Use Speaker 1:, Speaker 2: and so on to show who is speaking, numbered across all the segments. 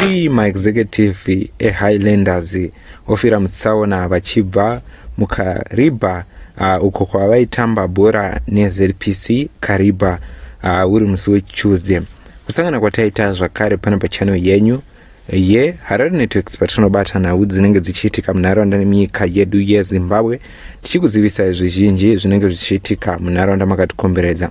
Speaker 1: Three maexecutive eHighlanders ofira mutsaona vachibva muKariba uh, uko kwavaitamba bhora neZPC Kariba uh, uri musi weTuesday. Kusangana kwataita zvakare pano pachano yenyu ye harare networks patinobata nhau dzinenge dzichiitika munharaunda nemunyika yedu yezimbabwe tichikuzivisai zvizhinji zvinenge zvichiitika munharaunda makatikomberedza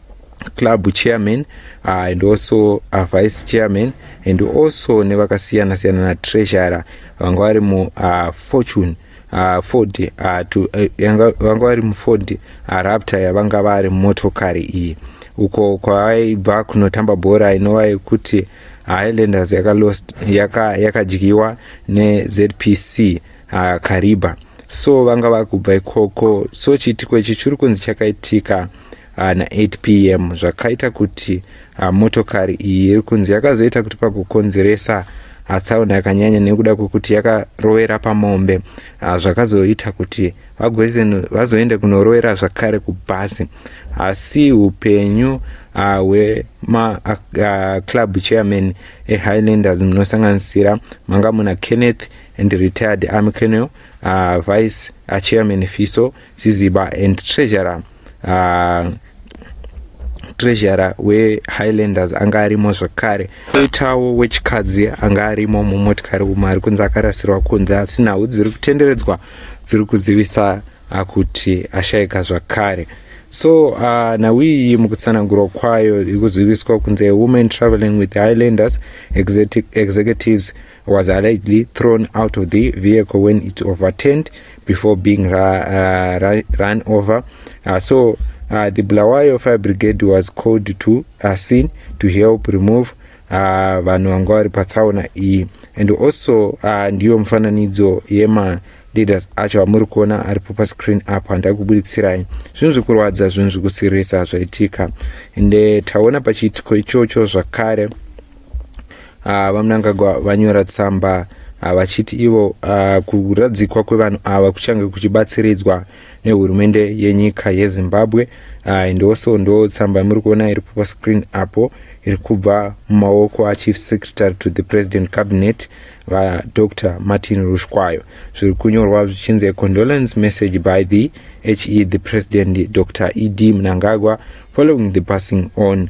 Speaker 1: club chairman uh, and also uh, vice chairman and also nevakasiyana siyana na treasurer vanga vari mu uh, fortune uh, ford uh, to, uh, vanga vari muford uh, raptor yavanga vari motokari iyi uko kwavaibva kunotamba bhora inova yekuti highlanders yakalost yakadyiwa yaka nezpc uh, kariba so vanga vakubva ikoko so chiitiko ichi chiri kunzi chakaitika ana 8 pm zvakaita kuti ah, motokari iyi iri kunzi yakazoita kuti pakukonzeresa ah, tsaona yakanyanya nekuda kwekuti yakarovera pamombe ah, zvakazoita kuti vagozen vazoende kunorovera zvakare kubhasi asi upenyu hwemaclub chairman ehighlanders munosanganisira manga muna kenneth and retired army colonel vice chairman fiso Ziziba and treasurer uh, treasurer wehighlanders anga arimo zvakare koitawo wechikadzi anga arimo mumotikari umo ari kunzi akarasirwa kunze asi nhau dziri kutenderedzwa dziri kuzivisa ah, kuti ashaika zvakare so uh, ah, nhau iyi mukutsanangurwa kwayo iri kuziviswa kunze women traveling with highlanders executives was allegedly thrown out of the vehicle when it overturned before being ra, uh, ra, run over. Uh, so uh, the Bulawayo Fire Brigade was called to a uh, scene to help remove uh, vanhu vanga vari patsaona iyi and also uh, ndiyo mufananidzo yema leaders acho amuri kuona aripo pascreen apo handai kubuditsirayi zvinhu zvekurwadza zvinhu zvekusirisa zvaitika ende taona pachiitiko ichocho zvakare Ah, VaMnangagwa vanyora tsamba ah, vachiti ivo ah, kuradzikwa kwevanhu ava kuchange kuchibatsiridzwa nehurumende yenyika yezimbabwe ah, and also ndo tsamba yamuri kuona iripo pascreen apo iri kubva mumaoko achief secretary to the president cabinet vadr martin rushkwayo zviri kunyorwa zvichinzi a condolence message by the he the president dr ed mnangagwa following the passing on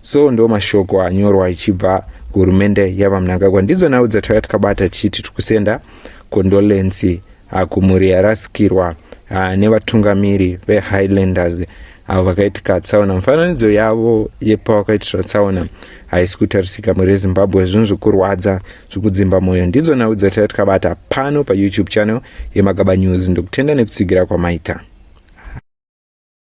Speaker 1: so ndo mashoko anyorwa ichibva kuhurumende yavamnangagwa ndidzo nhau dzatauya tikabata tichiti tiri kusenda condolency ah, kumhuri yarasikirwa ah, nevatungamiri vehighlanders avo vakaitika tsaona mufananidzo yavo yepavakaitira tsaona haisi kutarisika mhuri yezimbabwe zvinhu zvekurwadza zvekudzimba mwoyo ndidzo nhau dzataiya tikabata pano payoutube channel yemagaba news ndokutenda nekutsigira kwamaita